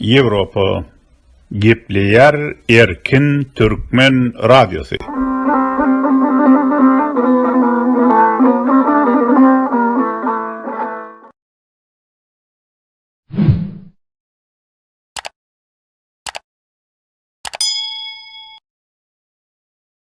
Ýewropa gepleýär erkin türkmen radiosy.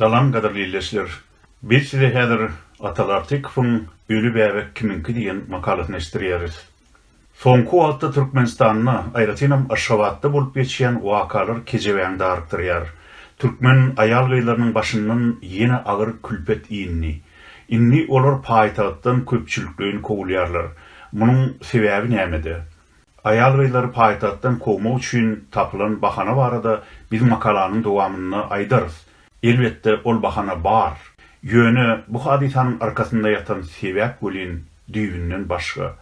Salam gadyrly ildeşler. Biz size häzir Atal Artykowyň Öli bäbek kimiňki diýen makalasyny eşitdirýäris. Soňky wagtda Türkmenistanda, aýratynam Aşgabatda bolup geçýän wakalar kejebäňi darykdyrýar. Türkmen aýal-gyzlarynyň başyndan ýene agyr külpet indi. Indi olar paýtagtdan köpçülikleýin kowulýarlar. Munuň sebäbi nämede? Aýal-gyzlary paýtagtdan kowmak üçin tapylan bahana barada biz makalanyň dowamynda aýdarys. Elbetde, ol bahana bar. Ýöne bu hadysanyň arkasynda ýatan sebäp welin düýbünden başga.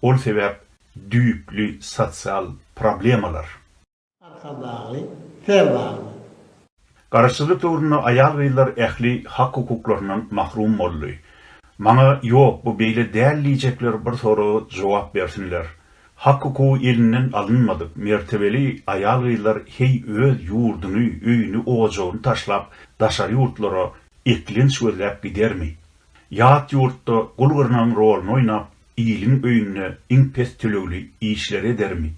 Ol sebäp düýpli sosial problemalar. Arkadagly ser barmy? Garaşsyzlyk döwründe aýal-gyzlar ähli hak-hukuklaryndan mahrum boldy. Maňa ýok, bu beýle däl diýjekler bir soraga jogap bersinler. Hak-hukugy elinden alynmadyk, mertebeli aýal-gyzlar heý öz ýurduny, öýüni-ojagyny taşlap daşary ýurtlara eklenç gözläp gidermi? Ýat ýurtda gul-gyrnagyň roluny oýnap, iliň öýünde iň pes tölegli işleri edermi?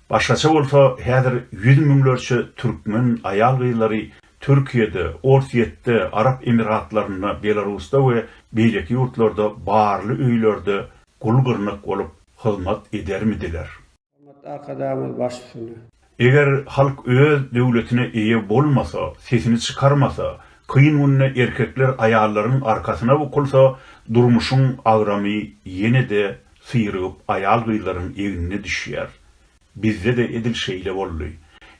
Başgaça bolsa, häzir ýüz müňlerçe türkmen aýal-gyzlary Türkiýede, Orsýetde, Arap Emirgatlarynda, Belarusda we beýleki ýurtlarda barly öýlerde gul-gyrnak bolup hyzmat edermidiler? Hormatly Arkadagymyz baş üstüne. Eger halk öz döwletine eýe bolmasa, sesini çykarmasa, kyn günde erkekler aýallaryň arkasyna bukulsa, durmuşyň agramy ýene-de syrygyp aýal-gyzlaryň egnine düşýär. Bizde-de edil şeýle boldy.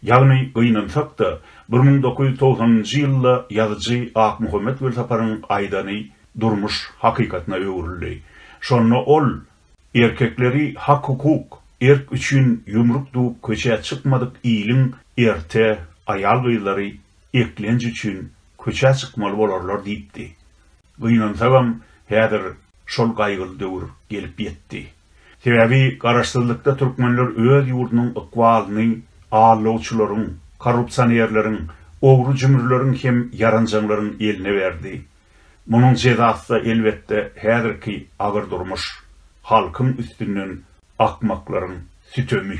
Ýagny, gynansak-da, bir müň dokuz ýüz togsanynjy ýylda ýazyjy Akmuhammet Welsaparyň aýdany durmuş hakykatyna öwrüldi. Şonda ol, Erkekleri hak-hukuk, erk üçin ýumruk düwüp köçä çykmadyk iliň erte aýal-gyzlary eklenç üçin köçä çykmaly bolarlar diýipdi. Gynansagam, häzir şol gaýgyly döwür gelip ýetdi. Sebäbi garaşsyzlykda türkmenler öz ýurdunyň ykbalyny aldawçylaryň, korrupsionerleriň, ogry-jümrüleriň hem ýaranjaňlaryň eline berdi. Munuň jezasy-da elbetde häzirki agyr durmuş, halkyň üstünden akmaklaryň sütemi.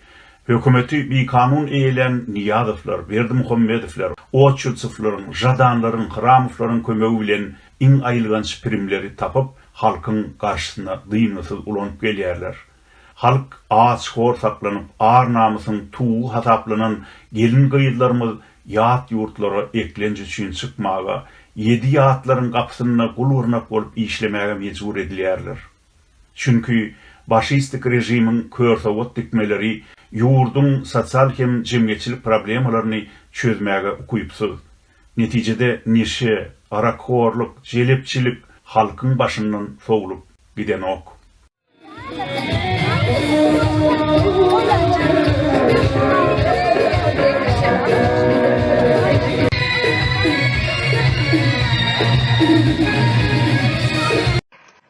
Hökümeti bikanun eýelän Nyýazowlar, Berdimuhamedowlar, Oçurtsowlaryň, Žadanlaryň, Hramowlaryň kömegi bilen iň aýylganç primleri tapyp, halkyň garşysyna dyngysyz ulanyp gelýärler. Halk aç, hor saklanyp, ar-namysyň tugy hasaplanan gelin-gyzlarymyz ýat ýurtlara eklenç üçin çykmaga, ýedi ýatlaryň gapysynda gul-gyrnak bolup işlemäge mejbur edilýärler. Çünki başistik režimiň körsowat dikmeleri ýurduň sosial hem jemgyýetçilik problemalaryny çözmäge ukypsyz. Netijede neşe, arakhorlyk, jelepçilik halkyň başyndan sowlup gidenok.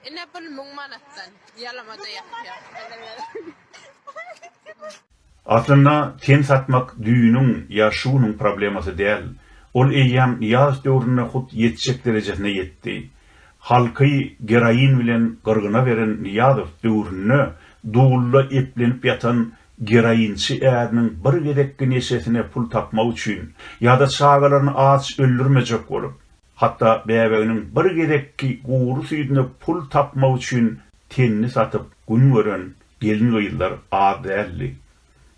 Ine pul müň manatdan ýalamada ýatýar. Aslynda ten satmak düýüniň ýa şu günüň problemasy däl. Ol eýýäm ýaz döwründe hut ýetjek derejesine ýetdi. Halky geroin bilen gyrgyna beren Nyýazow döwründe dulda eplenip ýatan geroinçi äriniň bir gezekki neşesine pul tapmak üçin ýa-da çagalaryny aç öldürmejek bolup, Hatda bäbeginiň bir gezekki gury süýdüne pul tapmak üçin tenini satyp gün gören gelin-gyzlar az däldi.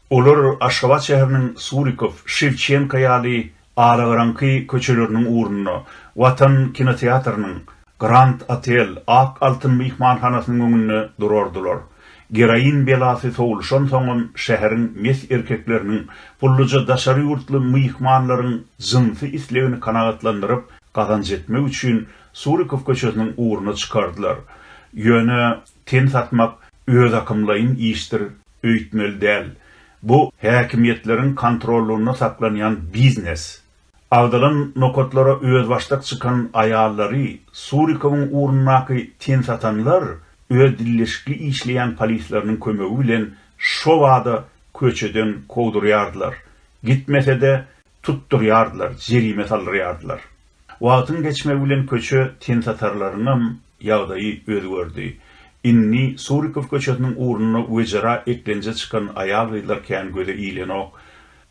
Olar Aşgabat şäheriniň Surikow, Şewçenko ýaly alagaraňky köçeleriniň ugrunda, Watan kinoteatrynyň, Grand Otel, Ak altyn myhmanhanasynyň öňünde durardylar. Geroin belasy sowluşansoňam şäheriň mes erkekleriniň gulluja daşary ýurtly myhmanlaryň jynsy islegini kanagatlandyryp, gazanç etmek üçin Surikow köçesiniň ugruna çykardylar. Ýöne ten satmak özakymlaýyn işdir öýtmeli däl. Bu häkimiýetleriň kontrollygynda saklanýan biznes. Agzalan nokatlara özbaşdak çykan aýallary Surikowyň ugrundaky tensatanlar öz dilleşikli işleýän polisleriniň kömegi bilen şobada köçeden kowdurýardylar, gitmese-de tutdurýardylar, jerime saldyrýardylar. Wagtyň geçmegi bilen köçe tensatarlaryňam ýagdaýy özgerdi. Indi Surikow köçesiniň ugrunda wejera eklenje çykan aýal-gyzlar kän göze ilenok.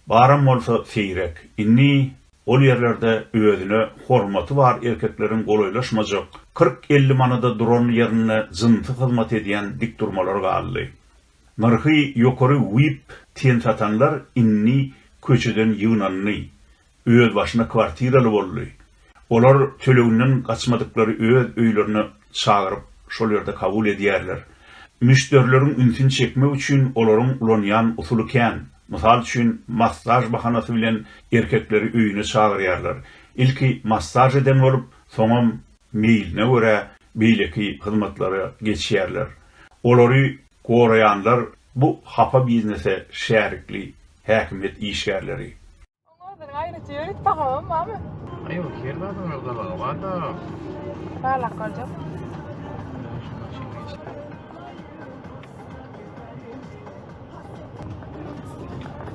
Baram bolsa seýrek. Indi ol ýerlerde özüne hormaty bar erkekleriň golaýlaşmajak, kyrk-elli manada duran ýerinde jynsy hyzmat edýän dikdurmalar galdy. Nyrhy ýokary vip ten satanlar indi köçeden ýygnandy, özbaşyna kwartiraly boldy. Olar töleginden gaçmadyklary öz öýlerine çagyryp, şol ýerde kabul edýärler. Müşderileriň ünsüni çekmek üçin olaryň ulanýan usuly kän. Mysal üçin, massaž bahanasy bilen erkekleri öýüne çagyrýarlar. Ilki massaž eden bolup, soňam meýline görä beýleki hyzmatlara geçýärler. Olary goraýanlar bu hapa biznese şärikli häkimiýet işgärleri. Onuň aýratyn ýörüt bahabam barmy? Ýok, her zadyň öz gabagy bar-da. Barlap görjek.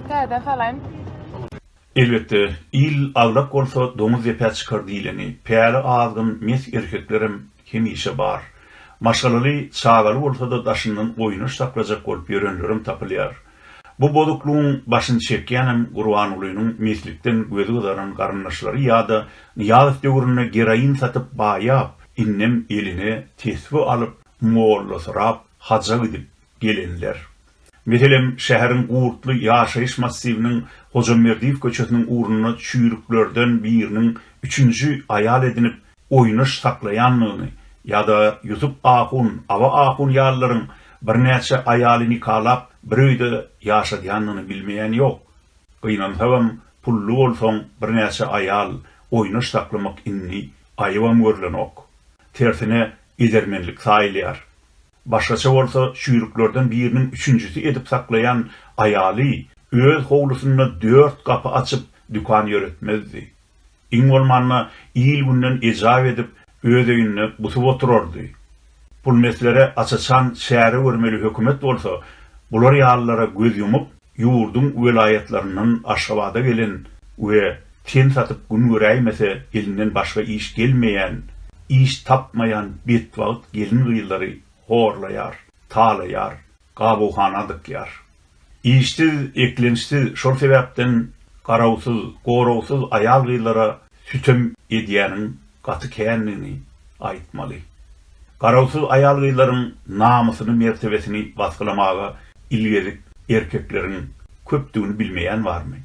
Täze salaýyn. Elbetde, il agrak bolsa doňuz depä çykar diýleni, päli azgyn mes erkeklerem hemişe bar. Maşgalaly, çagaly bolsa-da daşyndan oýnaş saklajak bolup ýörenlerem tapylýar. Bu bozuklygyň başyny çekýänem Gurbangulynyň meslikden gözi gyzaran garyndaşlary ýa-da Nyýazow döwründe geroin satyp baýap, indem eline tesbi alyp, mollasyrap haja gidip gelenler. Meselem, şäheriň Gurtly ýaşaýyş massiwiniň Hojamerdiýew köçesiniň ugrunda çüýrüklerden biriniň üçünji aýal edinip oýnaş saklaýanlygyny ýa-da Ýusup ahun, Aba ahun ýalylaryň birnäçe aýaly nikalap, bir öýde ýaşadýanlygyny bilmeýän ýok. Gynansagam, pully bolsaň, birnäçe aýal oýnaş saklamak indi aýybam görlenok. Tersine, edermenlik saýylýar. Başgaça bolsa, çüýrüklerden biriniň üçünjisi edip saklaýan aýaly öz howlusynda dört gapy açyp, dükan ýöretmezdi. Iň bolmanda, il-günden ejap edip, öz öýünde gusup oturardy. Pulmeslere aç-açan çäre görmeli hökümet bolsa, bular ýalylara göz ýumup, ýurduň welaýatlaryndan Aşgabada gelen we ten satyp gün göräýmese elinden başga iş gelmeýän, iş tapmaýan betbagt gelin-gyzlary horlaýar, talaýar. gabughana dykýar. Işsiz, eklençsiz, şol sebäpden garawsyz, goragsyz aýal-gyzlara sütem edýäniň gaty kändigini aýtmaly. Garawsyz aýal-gyzlaryň namysyny-mertebesini basgylamaga ilgezik erkekleriň köpdügini bilmeýän barmy?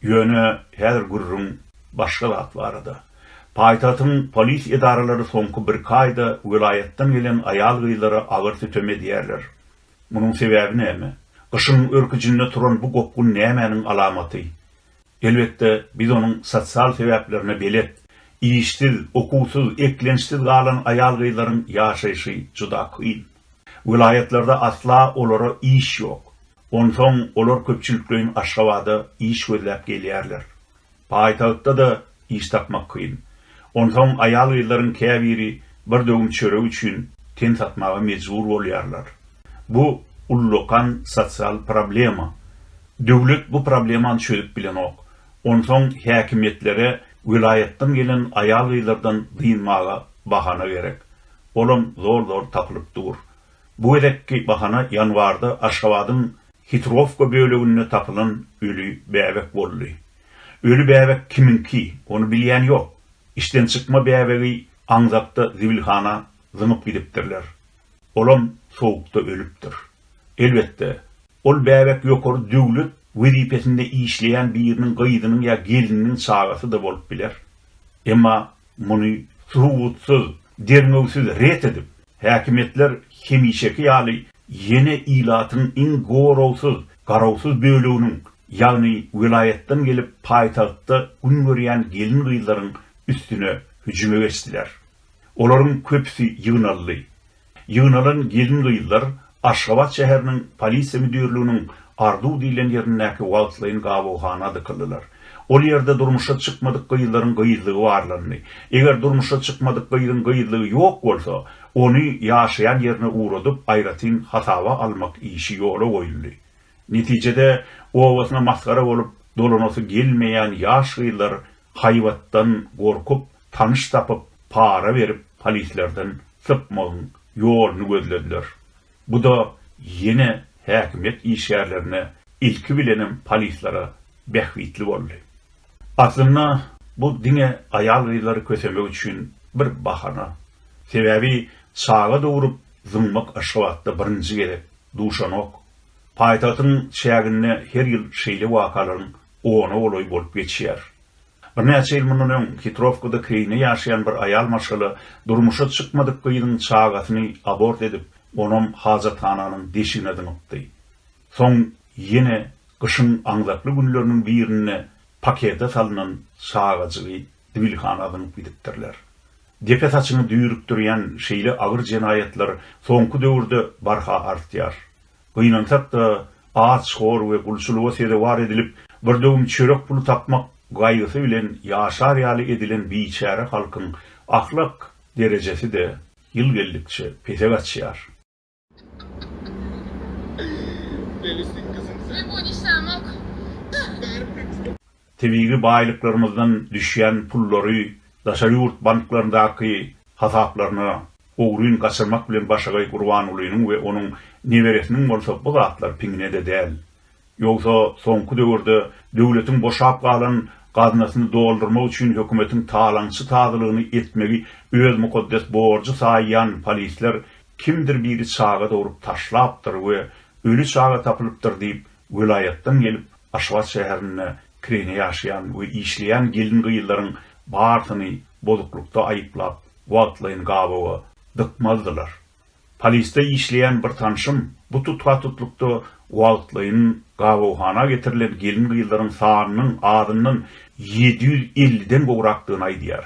Ýöne häzir gürrüň başga zat barada. Paýtagtyň polis edaralary soňky birki aýda welaýatdan gelen aýal-gyzlara agyr sütem edýärler. Munuň sebäbi näme? Gyşyň örküjinde turan bu gopgun nämäniň alamaty? Elbetde, biz onuň sosial sebäplerine belet. Işsiz, okuwsyz, eklençsiz galan aýal-gyzlaryň ýaşaýşy juda kyn. Welaýatlarda asla olara iş ýok. Onsoň olar köpçülikleýin Aşgabada iş gözläp gelýärler. Paýtagtda-da iş tapmak kyn. Onsoň aýal-gyzlaryň käbiri bir döwüm çörek üçin ten satmaga mejbur bolýarlar. Bu ullakan sosial problema. Döwlet bu problemany çözüp bilenok. Onsoň häkimiýetlere welaýatdan gelen aýal-gyzlardan dynmaga bahana gerek. Olam zol-zol tapylyp dur. Bu gezekki bahana ýanwarda Aşgabadyň Hitrowka böleginde tapylan öli bäbek boldy. Öli bäbek kimiňki, ony bilýän ýok. Işden çykma bäbegi aňzakda zibilhana zyňyp gidipdirler. Olam sowukda ölüpdir. Elbetde, ol bäbek ýokary döwlet wezipesinde işleýän biriniň gyzynyň ýa gelniniň çagasy-da bolup biler. Emma Muny subutsyz, derňewsiz ret edip, häkimiýetler hemişeki ýaly ýene ilatyň iň goragsyz, garawsyz böleginiň, ýagny welaýatdan gelip paýtagtda gün görýän gelin-gyzlaryň üstüne hüjüme geçdiler. Olaryň köpüsi ýygnaldy. Ýygnalan gelin-gyzlar Aşgabat şäheriniň Polisiýa müdirliginiň Arzuw diýlen ýerindäki wagtlaýyn gabawhana dykyldylar. Ol ýerde durmuşa çykmadyk gyzlaryň gyzlygy barlandy. Eger durmuşa çykmadyk gyzyň gyzlygy ýok bolsa, ony ýaşaýan ýerine ugradyp, aýratyn hasaba almak işi ýola goýuldy. Netijede, obasyna masgara bolup dolanasy gelmeýän ýaş gyzlar Haýbatdan gorkup, tanyş tapyp, para berip polislerden sypmagyň ýoluny gözlediler. Bu-da ýene häkimiýet işgärlerine, ilki bilenem polislere bähbitli boldy. Aslynda bu diňe aýal-gyzlary kösemek üçin bir bahana. Sebäbi çaga dogrup zyňmak Aşgabatda birinji gezek duşanok. Paýtagtyň çäginde her ýyl şeýle wakalaryň Ona golaý bolup geçýär. Birnäçe ýyl mundan öň Hitrowkada Keýne ýaşaýan bir aýal maşgala durmuşa çykmadyk gyzyň çagasyny abort edip, onam hajathananyň deşigine zyňypdy. Soň ýene gyşyň aňzakly günleriniň birinde pakete salnan çagajygy zibilhana zyňyp gidipdirler. Depe saçyňy düýrükdirýän şeýle agyr jenaýatlar soňky döwürde barha artýar. Gynansak-da, aç, hor we gulçulyga sezewar edilip, bir döwüm çörek puly tapmak gaýgysy bilen ýaşar ýaly edilen biçäre halkyň ahlak derejesi-de ýyl geldikçe pese gaçýar. tebigy baýlyklarymyzdan düşýän pullary daşary ýurt banklaryndaky hasaplaryna ogryn gaçyrmak bilen başagaý Gurbangulynyň we onuň neberesiniň bolsa bu zatlar piňine-de däl. Ýogsa soňky döwürde döwletiň boşap galan gaznasyny doldurmak üçin hökümetiň talaňçy tazylygyny etmegi öz mukaddes borjy saýýan polisler kimdir biri çaga dogrup taşlapdyr we öli çaga tapylypdyr diýip welaýatdan gelip Aşgabat şäherinde kireýine ýaşaýan we işleýän gelin-gyzlaryň barsyny bozuklykda aýyplap, wagtlaýyn gabawa dykmazdylar. Polisde işleýän bir tanşym bu tutha-tutlukda wagtlaýyn gabawhana getirilen gelin-gyzlaryň sanynyň azyndan ýedi ýüz elliden gowrakdygyny aýdýar.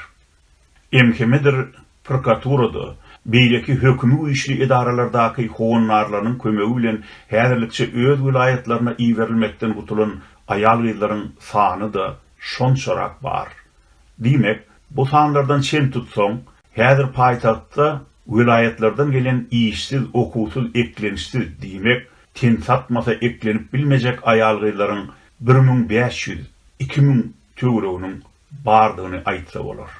MHM-dir prokuraturada, beýleki hökümi güýçli edaralardaky howandarlarynyň kömegi bilen häzirlikçe öz welaýatlaryna iberilmekden gutulan aýal-gyzlaryň sany-da şonçarak bar. Diýmek, bu sanlardan çen tutsaň, häzir paýtagtda welaýatlardan gelen işsiz, okuwsyz, eklençsiz, diýmek, ten satmasa eklenip bilmejek aýal-gyzlaryň bir müň bäş ýüz, iki müň töwereginiň bardygyny aýtsa bolar.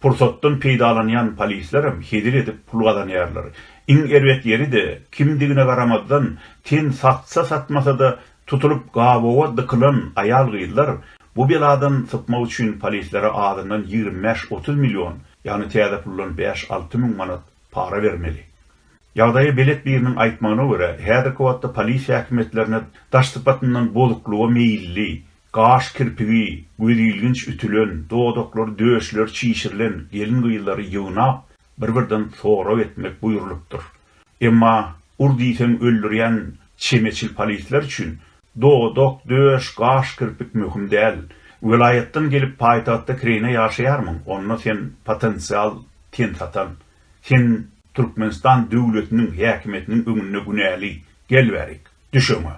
Pursatdan peýdalanýan polislerem hezil edip pul gazanýarlar. Iň erbet ýeri-de, kimdigine garamazdan, ten satsa-satmasa-da, tutulyp gabawa dykylan aýal-gyzlar bu beladan sypmak üçin polislere azyndan ýigrimi bäş-otuz million, ýagny täze puldan bäş-alty müň manat para bermeli. Ýagdaýa belet biriniň aýtmagyna görä, häzirki wagtda polis häkimiýetlerine daş sypatyndan bozuklyga meýilli, Gaş kirpigi gözilginç ütülen, dodaklary, döşleri çişirilen gelin-gyzlary ýygnap, bir-birden sorag etmek buýrulypdyr. Emma ur diýseň öldürýän çemeçil polisler üçin dodak, döş, gaş, kirpik möhüm däl. Welaýatdan gelip paýtagtda kireýine ýaşaýarmyň, onda sen potensial ten satan. Sen Türkmenistan döwletiniň häkimiýetiniň öňünde günäli. Gel bärik, düş öňe.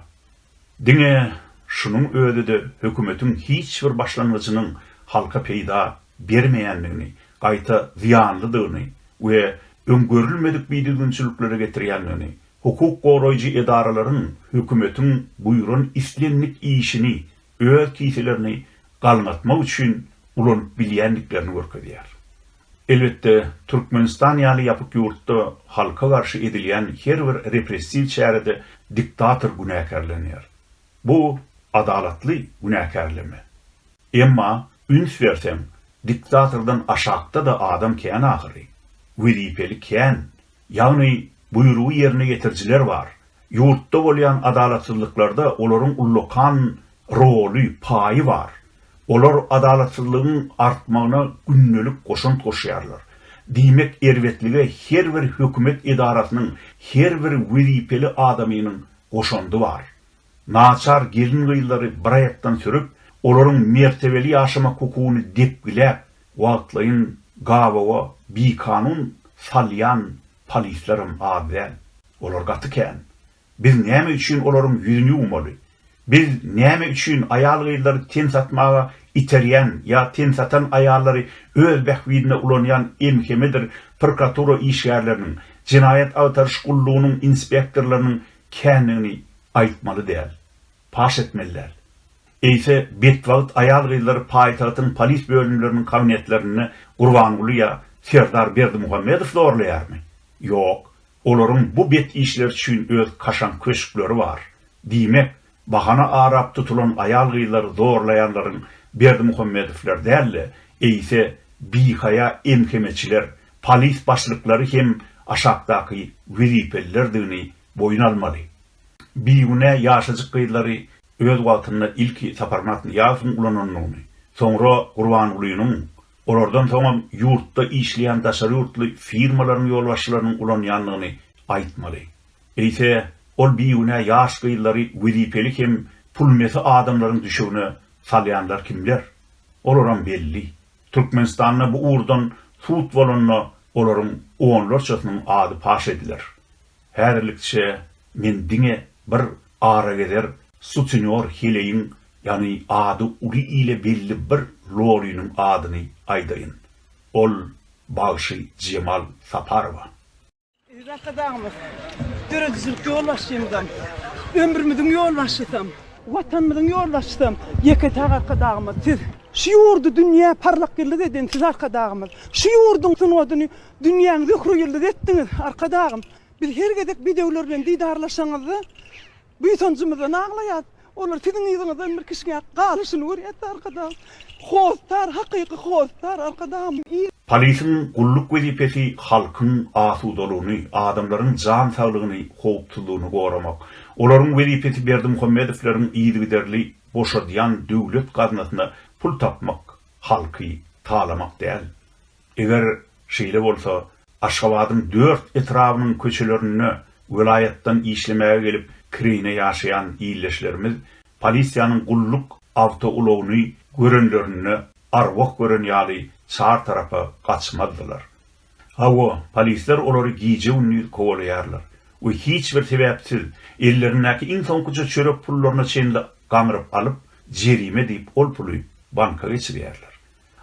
Diňe şunuň özi-de hökümetiň hiç bir başlangyjynyň halka peýda bermeýändigini, gaýta zyýanlydygyny we öň görülmedik bidüzgünçiliklere getirýändigini, hukuk goraýjy edaralaryň hökümetiň buýran islendik işini öz kiselerini galňatmak üçin ulanyp bilýändiklerini görkezýär. Elbetde, Türkmenistan ýaly ýapyk ýurtda halka garşy edilýän her bir repressiw çärede diktator günäkärlenýär. Bu adalatly günäkärleme. Emma, üns berseň, diktatordan aşakda-da adam kän ahyry. Wezipeli kän, Ýagny, buýrugy ýerine ýetirijiler bar. Ýurtda bolýan adalatsyzlyklarda olaryň ullakan roly, paýy bar. Olar adalatsyzlygyň artmagyna gündelik goşant goşýarlar. Diýmek, erbetlige her bir hökümet edarasynyň, her bir wezipeli adamynyň goşandy bar. Naçar gelin-gyzlary bir aýakdan sürüp, olaryň mertebeli ýaşamak hukugyny depgiläp, Wagtlaýyn gabawa bikanun salýan polislerem az däl. Olar gaty kän. Biz näme üçin olaryň ýüzüni ýuwmaly? Biz näme üçin aýal-gyzlary ten satmaga iterýän ýa ten satan aýallary öz bähbidine ulanýan MHM-dir prokuratura işgärleriniň, jenaýat agtaryş gullugynyň inspektorlarynyň kändigini aýtmaly däl. Paş etmeli däl. Eýse, betbagt aýal-gyzlar paýtagtyň polis bölümleriniň kabinetlerinde Gurbanguly ýa Serdar Berdimuhamedow zorlaýarmy? Ýok, olaryň bu bet işleri üçin öz kaşaň köşkleri bar. Diýmek, bahana arap tutulan aýal-gyzlary zorlaýanlaryň Berdimuhamedowlar däl-de, eýse, bihaýa MHM-çiler, polis başlyklary hem aşakdaky wezipelilerdigini boýun almaly. bigünä ýaşajyk gyzlary öz wagtynda ilki Saparmyrat Nyýazowyň ulanandygyny, soňra Gurbangulynyň, olardan soňam ýurtda işleýän daşary ýurtly firmalaryň ýolbaşçylarynyň ulanýandygyny aýtmaly. Eýse, ol bigünä ýaş gyzlary wezipeli hem pulmesi adamlaryň düşegine salýanlar kimler? Olaram belli. Türkmenistanda bu ugurdan sud bolanda olaryň onlarçasynyň ady paş ediler. Häzirlikçe men diňe bir aragezer sutenýor heleýiň, ýagny ady uly ile belli bir loliniň adyny aýdaýyn. Ol bagşy Jemal Saparowa. Eziz Arkadagymyz, döredijilik ýolbaşçymyzam, ömrümiziň ýolbaşçysam, Watanymyzyň ýolbaşçysam Ýeketag Arkadagymyz siz. Şu ýurdy dünýä parlak ýyldyz eden siz Arkadagymyz. Şu ýurduň sungatyny Dünýäň zöhre ýyldyzy etdiňiz, Arkadagym! Biz her gezek bedewler bilen didarlaşanyňyzda, buýsanjymyzdan aglaýas. Olar siziň yzyňyzdan bir kişňäp galyşyny görýäs-de, Arkadagym! Hossar, hakyky hossar, Arkadagymyň yzy! Polisiň gulluk wezipesi halkyň asudalygyny, adamlaryň jan saglygyny, howpsuzlygyny goramak. Olaryň wezipesi Berdimuhamedowleriň yzygiderli boşadýan döwlet gaznasyna pul tapmak, halky talamak däl. Eger şeýle bolsa, Aşgabadyň dört etrabynyň köçelerinde welaýatdan işlemäge gelip kireýine ýaşaýan ildeşlerimiz polisiýanyň gulluk awtoulagyny görenlerinde arwah gören ýaly çar tarapa gaçmazdylar. Hawa, polisler olary gije-gündiz kowalaýarlar we hiç bir sebäpsiz ellerindäki iň soňkuja çörek pullaryna çenli gaňryp alyp, jerime diýip ol puly banka geçirýärler.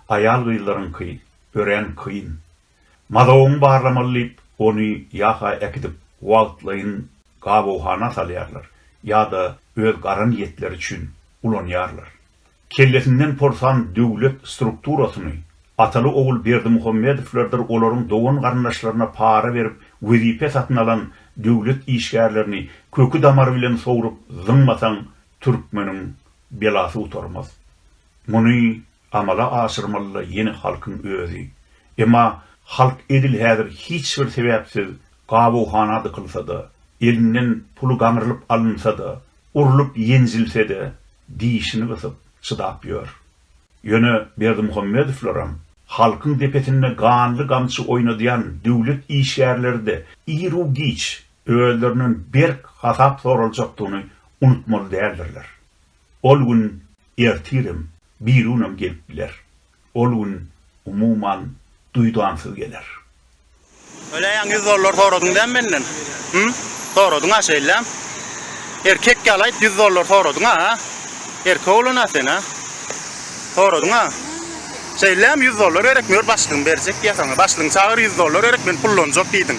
Aýal-gyzlaryňky örän kyn. Mazogyňy barlamaly diýip, ony ýa-ha äkidip wagtlaýyn gabawhana salýarlar, ýa-da öz gara niýetleri üçin ulanýarlar. Kellesinden porsan döwlet strukturasyny, Ataly-ogul Berdimuhamedowlardyr olaryň dogan-garyndaşlaryna para berip wezipe satyn alan döwlet işgärlerini köki-damary bilen sowrup zyňmasaň türkmeniň belasy gutarmaz. Muny amala aşyrmaly-da ýene halkyň özi. Emma halk edil häzir hiç bir sebäpsiz gabawhana dykylsa-da, elinden puly gaňrylyp alynsa-da, urlup-ýenjilse-de dişini gysyp, çydap ýör. Ýöne Berdimuhamedowlaram, halkyň depesinde ganly gamçy oýnadýan döwlet işgärleri-de iru-giç özlerinden berk hasap soraljakdygyny unutmaly däldirler. Ol gün ertirem, birigünem gelip biler. Ol gün, umuman, duýdansyz geler. Öleýäň ýüz dollar soradyň däm menden? Hü? Soradyň-a şeýläm? Erkek ýaly aýt, ýüz dollar soradyň-a, hä? Erkek oglan-a sen, hä? Soradyň-a? Şeýläm, ýüz dollar gerek, mör başlygyň berjek diýýä saňa. Başlygyňy çagyr, ýüz dollar gerek, men pullanjak diýdiň.